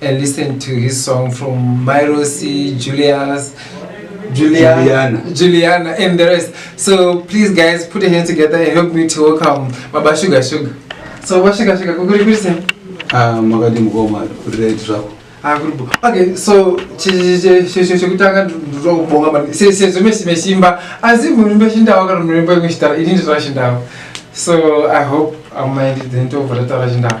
and listen to his song from Myrosi, Julius, Juliana, Juliana, Juliana, and the rest. So please, guys, put your hands together and help me to welcome Baba Sugar Sugar. So Baba Sugar Sugar, kukuri kuri sen? Ah, makadi mukoma kuri right zvako. Ah, kuri bo. Okay, so chekutanga ndinoda kubonga maningi sezvo mesimba asi muri mbeshindawo kana muri mbemeshitara ini ndizvashindawo so i hope amai ndidzeni tobva tataura chindawo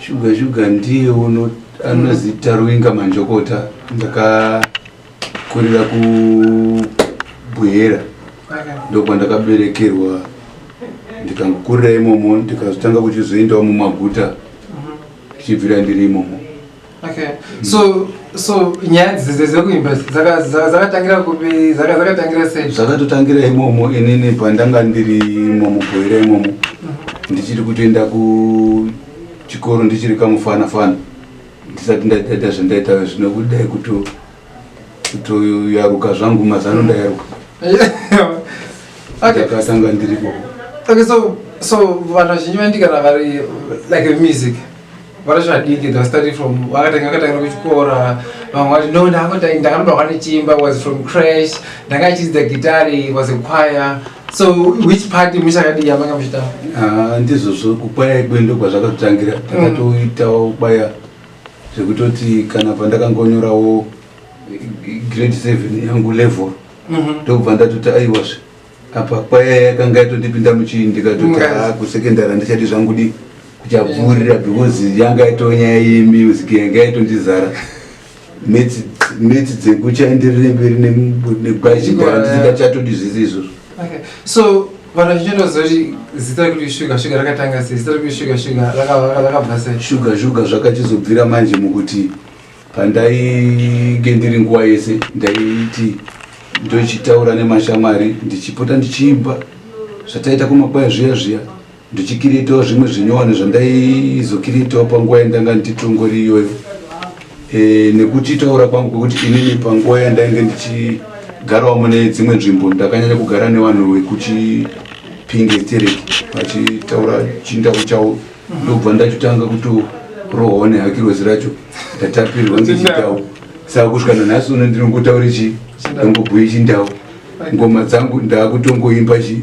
Shuga shuga ndiye uno anozi Tarwinga Manjokota ndakakurira ku Buhera ndokwandakaberekerwa ndikangokurira imomo ndikazotanga kuchizoendawo mumaguta tichibvira ndiri imomo Okay. Mm. So so nyaya dzese dzekuimba dzakatangira kupi dzakatangira sei? Dzakatotangira imomo inini pandanga ndiri imomo kuhera imomo mm. ndichiri kutoenda kuchikoro ndichiri kamufana fana ndisati ndaita zvandaita zvino kudai kuto kutoyaruka zvangu mazano ndayaruka ndakatanga ndiripo okay so so vanhu vazhinji vandigara vari like music varasvadiki they started from vakatanga vakatangira kuchikora vamwe vati no ndakanoda kwanichimba was from crash ndanga achidzidza gitari was a choir so which party muchakadii yamanga muchitamba ah, ndizvozvo kukwaya ikwe ndokwazvakatotangira mm. takatoitawo kwaya zvekutoti kana pandakangonyorawo grade 7 yangu level mhm. ndobva ndatoti aiwazve apa kwaya yakanga yatondipinda muchii ndikatoti a ah, kusecondary handichadi zvangu di kuchabvurira because yanga yatonyaya yemusic yanga yatondizara metsi dzekuchaenderere mberi negwazhigara ndisingachatodi zvese izvozvo Okay. So vanhu vachinyora zoti zita rekuti shuga shuga rakatanga sei zita rekuti shuga shuga rakabva sei shuga shuga zvakachizobvira manje mukuti pandainge ndiri nguva yese ndaiti ndochitaura nemashamwari ndichipota ndichiimba zvataita kumakwaya zviya zviya ndichikiritawo zvimwe zvinyowani zvandaizokiritawo panguva yandanga ndichitongori iyoyo e, nekutitaura kwangu kwekuti inini panguva yandainge ndichigarawo mune dzimwe nzvimbo ndakanyanya kugara nevanhu vekuchipinge stereki vachitaura chindau chavo ndobva ndachitanga kutorohwa nehakirozi racho ndatapirwa ngechindau saka kusvika nanhasi uno ndinongotaura chi ndangobhuye chindau ngoma dzangu ndaakutongoimba chii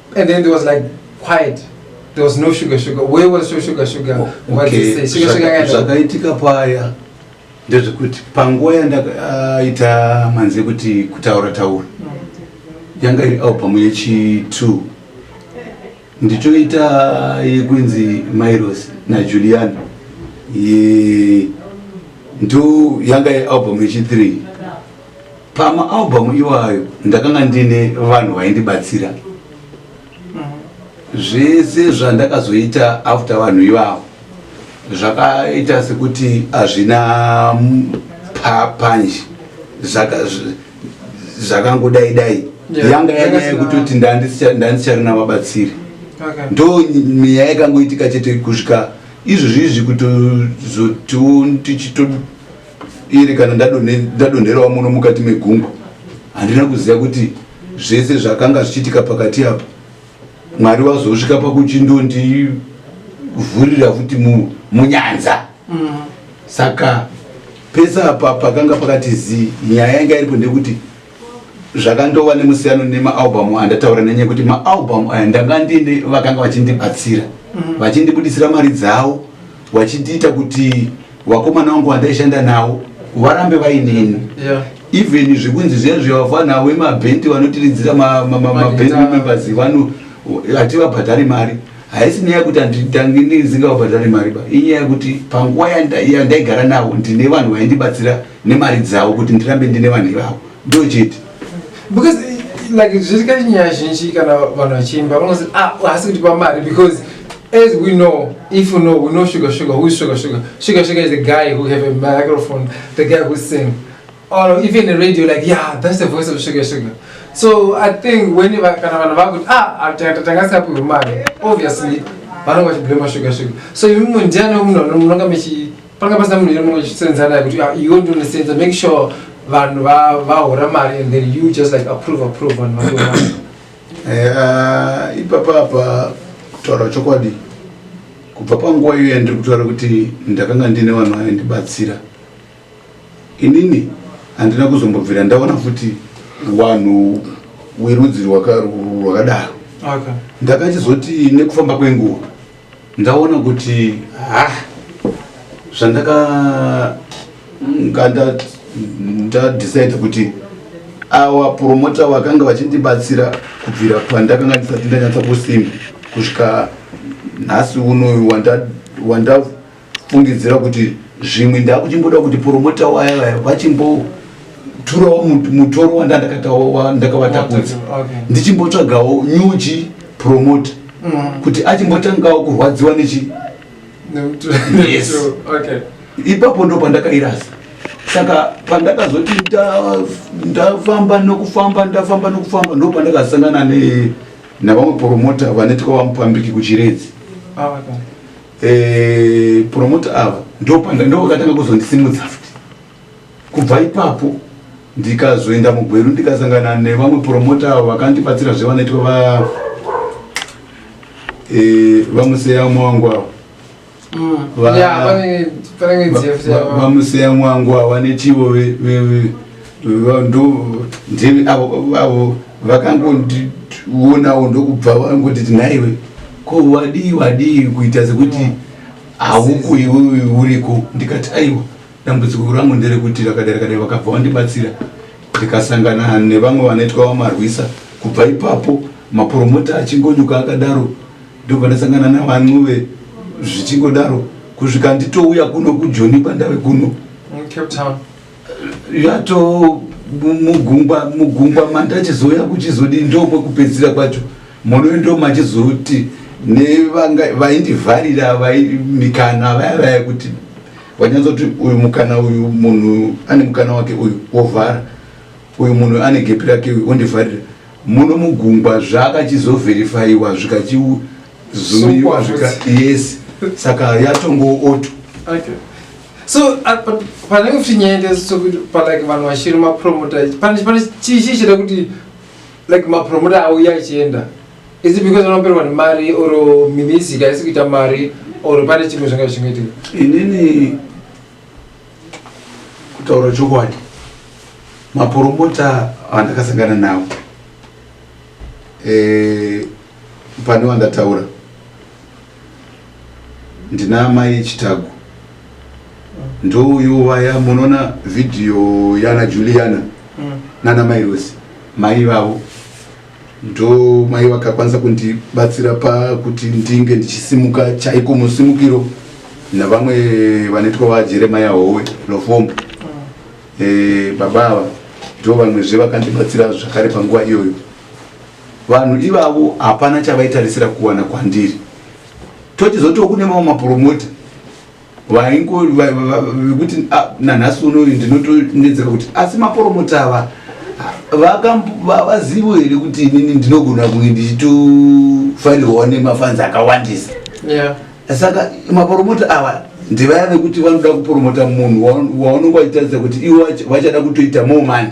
And then there was like quiet. There was no sugar sugar. Where was so sugar sugar? Oh, okay. What did they say? Sugar sugar yakaenda. Zvakaitika paya ndezvekuti panguva yandaita uh, manzi ekuti kutaura taura yanga iri album yechi 2 ndichoita yekunzi Mairos na Juliana ye ndo yanga album yechi 3 pamaalbum iwayo ndakanga ndine vanhu vaindibatsira zvese zvandakazoita after vanhu ivavo zvakaita sekuti hazvina panje zvakangodai dai yanga yanyaya yekutoti ndandisicharina vabatsiri ndo mweya yakangoitika chete kusvika izvozvizvi kutozoti tichito iri kana ndadonherawo muno mukati megungwa handina kuziva kuti zvese zvakanga zvichiitika pakati apo mwari wazosvika pakuchindondivhurira futi munyanza mm. saka pese apa pakanga pakati zii nyaya yanga iripo ndekuti zvakandova nemusiyano nemaalbum andataura nenyaya yekuti maalbum aya ndanga ndiine vakanga vachindibatsira mm. vachindibudisira mari dzavo vachindiita kuti vakomana vangu vandaishanda navo varambe vainini even zvekunzi zviya zvevafana vemabhendi vanotiridzira mabhendi members vano hativabhadhari mari haisi nyaya yekuti anditange ndizingavabhadhari mari ba inyaya yekuti panguva yandaigara navo ndine vanhu vaindibatsira nemari dzavo kuti ndirambe ndine vanhu ivavo ndochete because like zviri kati nyaya zhinji kana vanhu vachiimba vanozi ah, haasi kuti pamari because as we know if you know we know sugar sugar who is sugar sugar sugar sugar is the guy who have a microphone the guy who sing or even a radio like yeah that's the voice of sugar sugar so i think when kana vanhu vakuti ah tangasikapiwe mari obviously vanonga vachiblema sugar sugar so imwe ndiani munhu munonga mechi panga pasina munhu here muchisenzana naye kuti ah, iwe ndinosenza make sure vanhu vahora mari and then you just like approve approve vanhu vatora eh, ah, ipapa apa kutaura chokwadi kubva panguva iyo yandiri kutaura kuti ndakanga ndine vanhu vaindibatsira inini handina kuzombobvira ndaona futi vanhu werudzi rwakadaro ndakachizoti nekufamba kwenguva ndaona kuti ha zvandaka nganda ndadecide kuti awa promota vakanga vachindibatsira kubvira pandakanga ndisati ndanyatsa kusimba kusvika nhasi unoyu wanda, wanda fungidzira kuti zvimwe ndakuchimboda kuti poromota waya vaya vachimboturawo mutoro wandandakavatakudza ndichimbotsvagawo nyuchi promota mm. kuti achimbotangawo kurwadziwa nechi ipapo ndo pandakairasa saka pandakazoti ndafamba nokufamba ndafamba nokufamba ndo pandakasangana navamwe poromota vanetwa vamupambiki kuchiredzi ah, eh, promoter avo ndopanda ndovakatanga kuzondisimudza futi kubva ipapo ndikazoenda mugweru ndikasangana nevamwe promoter avo vakandibatsira zve vanoitwa va eh, vamuseya umwe wangu avo Mm. Va- Yeah, pane pane ngezi yafuti. vamuseya umwe wangu avo vanechivo ve- ve- ve- ndeve avo avo vakangondionawo ndokubva vangoti tinaiwe ko wadii wadii kuita sekuti hauko iwewe uriko ndikati aiwa dambudziko rangu nderekuti rakadai rakadai vakabva vandibatsira ndikasangana nevamwe vanoitwa vamarwisa kubva ipapo mapromota achingonyuka akadaro ndobva ndasangana navanwuve zvichingodaro kusvika nditouya kuno kujoni pandave kuno yato mugungwa mugungwa mandachizouya kuchizodi ndokwekupedzisira kwacho monoyo ndo machizoti nevaindivharira mikana vaya vaya kuti vanyanzoti uyu mukana uyu munhu ane mukana wake uyu wovhara uyu munhu ane gepi rake uyu ondivharira muno mugungwa zvaakachizovherifaiwa zvikachizuiwa zvika yes saka yatongootwa okay. so uh, panenge futi nyaya ndese sokuti palike vanhu vashiri mapromota pane chii chii chida kuti like mapromota auya achienda is it because vanoperwa nemari or mimizik haisi kuita mari or pane chimwe zvanga zvichingoitika inini kutaura chokwadi mapromota andakasangana nawo e, pane wandataura ndina amai chitagu ndouyu vaya munoona vhidhiyo yana juliana mm. nana mai rosi mai vavo ndo mai vakakwanisa kundibatsira pakuti ndinge ndichisimuka chaiko musimukiro navamwe vanoitwa vajeremaya howe lofombo mm. e, baba ava ndo vamwezve vakandibatsira zvakare panguva iyoyo Vanhu ivavo hapana chavaitarisira kuwana kwandiri. Tochizotiwo kune mamwe mapromota vaingo vekuti ah, nanhasi unoyu ndinotonetseka kuti asi mapromota ava vavazivo here kuti inini ndinogona kunge ndichitofanirwa nemafanzi akawandisa saka maporomota awa ndivaya vekuti vanoda kuporomota munhu waunenge wachitarisa kuti iwo vachada kutoita more money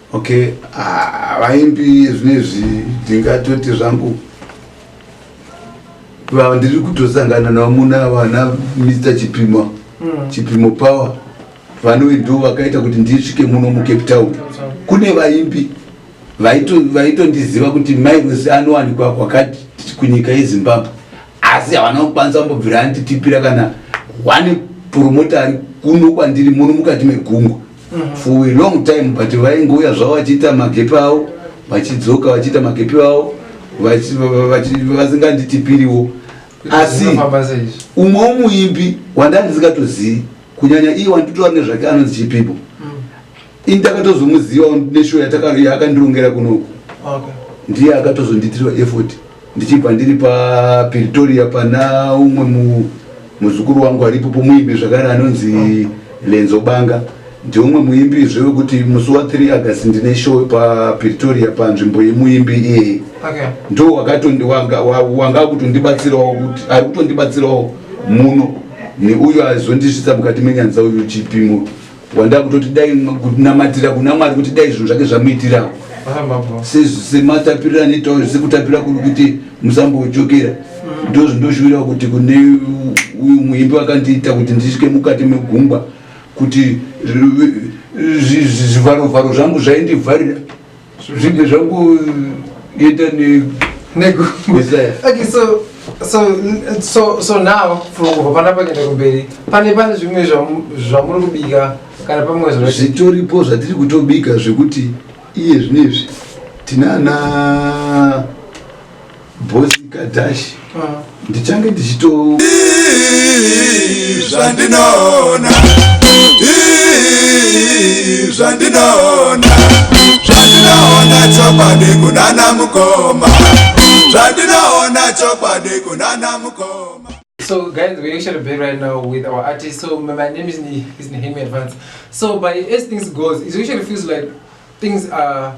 Okay, ah, vaimbi zvinezvi ndingatoti zvangu vandiri kutosangana navo muna vana Mr Chipima mm. Chipimo Power vanowe ndo vakaita kuti ndisvike muno muCape Town. Kune vaimbi vaitondiziva vaito kuti Miles anowanikwa kwakati kunyika yeZimbabwe asi havana kukwanisa kumbobvira anditipira kana one promoter ari kuno kwandiri muno mukati megungwa mhm. for a long time but vaingouya zvavo vachiita magepi avo vachidzoka vachiita magepi avo vasinganditipiriwo asi umwe womuimbi wandandisingatozivi kunyanya iye wanditoa nezvake anonzi chipipo mm. ini takatozomuziva neshow yatakaa akandirongera kunoku ndiye akatozonditirwa effort ndichibva ndiri papiritoria pana umwe mu, muzukuru wangu aripo pomuimbi zvakare anonzi lenzo banga ndiumwe muimbi zve wekuti musi wa 3 august ndine show papiritoria panzvimbo yemuimbi iyeye Okay. ndo wakatondi- wanga- wa- wanga akutondibatsirawo kuti ari kutondibatsirawo muno neuyo aizondisvitsa mukati menyanza uyu chipimo wanda kutoti dai kunamatira kuna mwari kuti dai zvinhu zvake zvamuitirawo ah, sematapirira anoitawo zvese kutapira kuri kuti musambojokera mm. ndo zvindoshuwirawo kuti kune uyu muimbi wakandiita kuti ndisvike mukati megungwa kuti zvivarovharo zvangu zvaindivharira zvinge zvakuita okay so so so so now from kubva panapa kuenda kumberi pane pane zvimwe zvamuri kubika kana pamwe zvitoripo zvatiri kutobika zvekuti iye zvinezvi tinana Boss Kadash ndichange ndichito zvandinoona zvandinoona zvandinoona chokwadi kunana mukoma zvandinoona chokwadi kunana mukoma So guys, we're actually back right now with our artist. So my, my name is is Nehemi Advance. So by as things goes, it actually feels like things are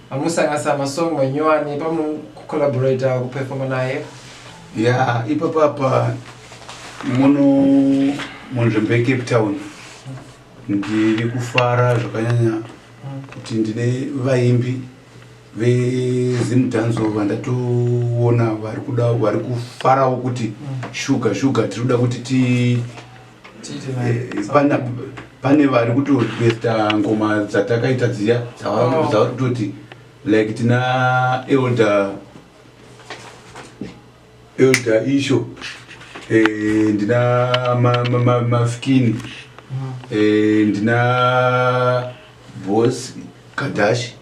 Amusanganisa masong manyowani pamucollaborator kuperforma naye? Yeah, ipapa apa muno munzvimbo yecape town ndiri kufara zvakanyanya kuti ndine vaimbi vezimdanzo vandatoona vari kuda vari kufarawo kuti shuga shuga tiri kuda kuti ti pana pane vari kutoresta ngoma dzatakaita dziya oh. dzavari kutoti like tina elder elder isho eh, ndina mafikini mm. eh, ndina bos kadashi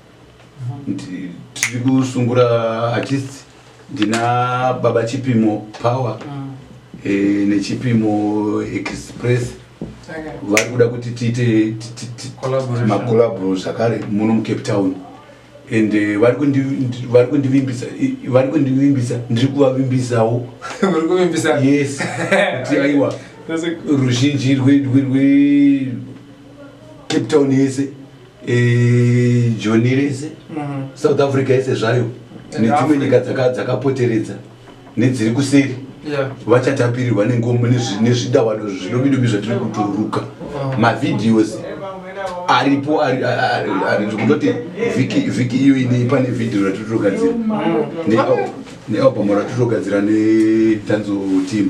tiri kusungura artist ndina baba chipimo power mm. e, nechipimo express vari kuda kuti tiite macolabro zvakare muno mucape town and eh, vari kundivimbisa vari kundivimbisa ndiri kuvavimbisawo yes kuti aiwa ruzhinji rwecape town yese Eh, joni rese mm. south africa yese zvayo nedzimwe nyika dzakapoteredza nedziri kuseri vachatapirirwa nengombo nezvidavado zvidobidobi zvatiri kuturuka mm. mavideos aripo ndikutoti vhiki iyo inei pane vhidhio ratiri togadzira mm. nealbum ratiri togadzira netanzo team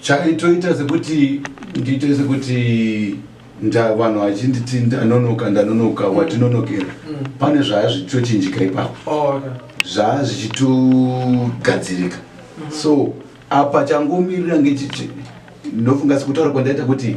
chaitoita sekuti ndiite sekuti vanhu vachinditi ndanonoka ndanonoka mm. watinonokera mm. pane zvaya zvichitochinjika ipapo oh, zvaya zvichitogadzirika mm-hmm. so apa changomirira ngechichi ndofunga sekutaura kwandaita kuti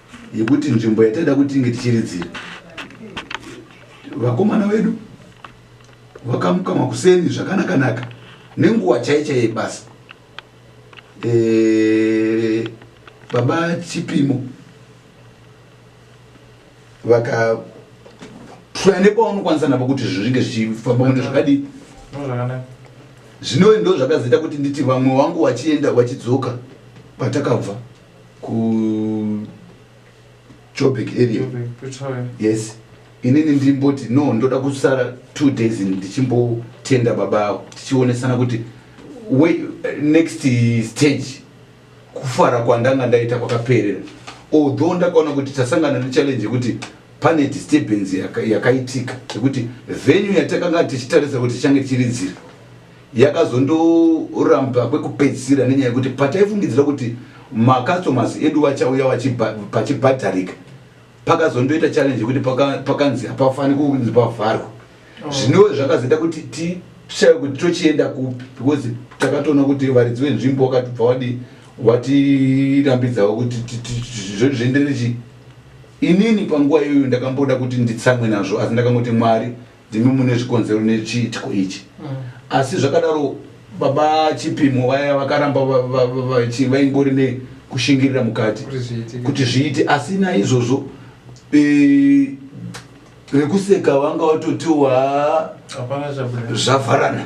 yekuti nzvimbo yataida kuti tinge tichiridzira vakomana vedu vakamuka makuseni zvakanakanaka nenguva chaicha yebasa e, baba chipimo vaka try nepaunokwanisa napo kuti zvinge zvichifamba kunde zvakadii zvinoe ndo zvakazoita kuti nditi vamwe wangu vachienda vachidzoka patakabva kujoburg area yes inini ndimboti no ndoda kusara two days ndichimbotenda baba avo tichionesana kuti next stage kufara kwandanga ndaita kwakaperera although ndakaona kuti tasangana nechallenge yekuti pane disturbance yakaitika yekuti venue yatakanga tichitarisa kuti tichange tichiridzira yakazondoramba kwekupedzisira nenyaya yekuti pataifungidzira kuti macustomers edu vachauya pachibhadharika pakazondoita challenge yekuti pakanzi hapafani kunzi pavharwa oh. zvinove zvakazoita kuti tishaye kuti tochienda kupi because takatoona kuti varidzi venzvimbo wakatibva wadi watirambidzawo kuti zvoenderere chii inini panguva iyoyo ndakamboda kuti nditsamwe nazvo asi ndakangoti mwari ndimi mune zvikonzero nechiitiko ichi mm. asi zvakadaro baba chipimo vaya vakaramba vaingori nekushingirira mukati kuti zviite asi naizvozvo e, vekuseka vanga vatotiwa zvavharana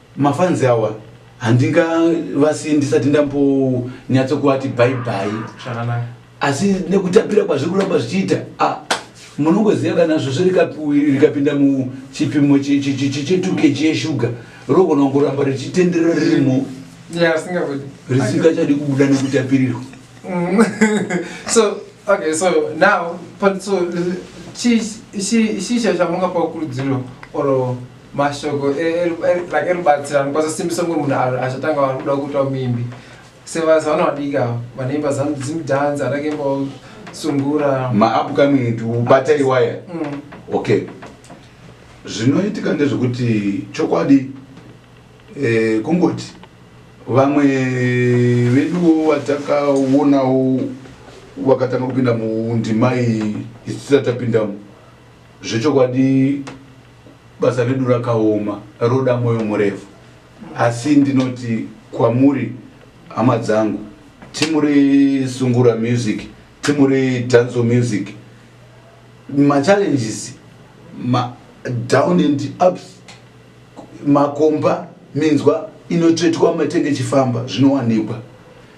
Mafanzi awa handinga vasi ndisati ndambonyatso kuvati bye bye zvakanaka asi nekutapira kwazviri kuramba zvichiita ah, munongoziva kana svosvo rikapinda muchipimo chetuke cheshuga rogona kuramba richitenderera ririmo risingachadi kubuda nekutapirirwa mm. so okay so now so chii chamungapa kurudziro or mashoko e, e, e, like erubatsirano kwasasimbisa umwe munhu achatanga vari kuda kuitwa mimbi sevasa vana vadiki ava vanoimba zimdance atake imbawo sungura maupcoming ndi ubata iwaya mm. okay zvinoitika ndezvekuti chokwadi eh, kungoti vamwe veduwo vatakaonawo vakatanga kupinda mundimai isisatapindamo Zvechokwadi basa redu rakaoma roda moyo murefu asi ndinoti kwamuri hama dzangu timu resungura music timu redanzo music machallenges madown and ups makomba minzwa inotsvetwa matenge chifamba zvinowanikwa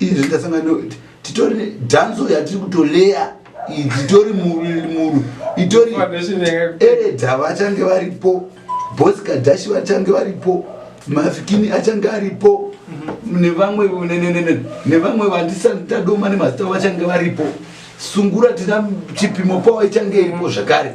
izvi ndasangana titori dhanzo yatiri kutoleya itori muru itori eredha vachange varipo bosi kadhashi vachange varipo mafikini achange aripo mhm. nevamwe nevamwe vandisatadoma nemazita vachange varipo sungura tina chipimo pawa ichange iripo zvakare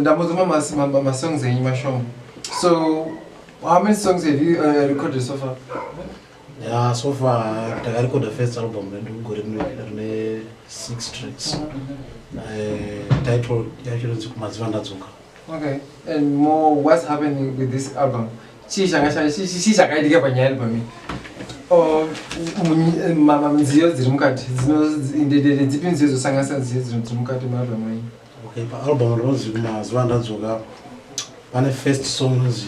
ndamuzomamamasongs enyu mashoma so how many songs have you uh, recorded so far ya so far takarecorda first album redu gore rine six tracks eh, title yacho rinzi kumaziva ndadzoka Okay, and more what's happening with this album? Chii changa changa chii chii chakaitika panyaya album iyi? Oh, munyi- ma- ma- nziyo dziri mukati dzino- ndedede dzipi nziyo dzosanganisa nziyo dzino- dziri mukati maalbum iyi? okay paalbum rinonzi mazuva andadzoka pane first song inonzi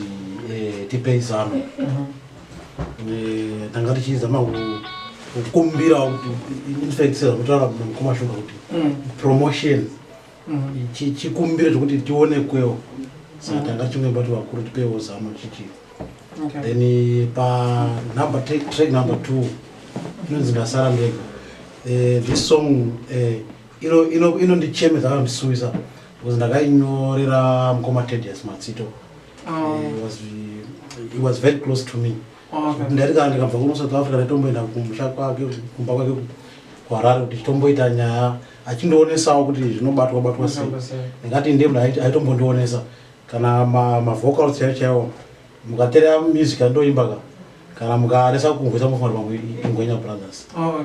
eh, tipei zano Eh, tanga tichizama ku- kukumbira kuti infact sezvakutaura mukoma shuga kuti Mm. promotion chikumbiro chekuti tionekwewo saka tanga chimwe bati vakuru tipewo zano chichi then eh, panumber track number two inonzi ndasara ndega eh, this song eh, inondichemedza kandisuisa because ndakainyorera mukoma tedius matsito oh. he was very close to me oh, ndaiti kana ndikabva kuno south africa ndaitomboenda kumusha kwake kumba kwake kuharare kuti chitomboita nyaya achindionesawo kuti zvinobatwa batwa sei ndingati ndiye munhu aitombondionesa kana mavocal chaiwo chaiwo mukateera music andoimba ka kana mukaresa kungoisa mufana pamwe ingwenya brothers oh,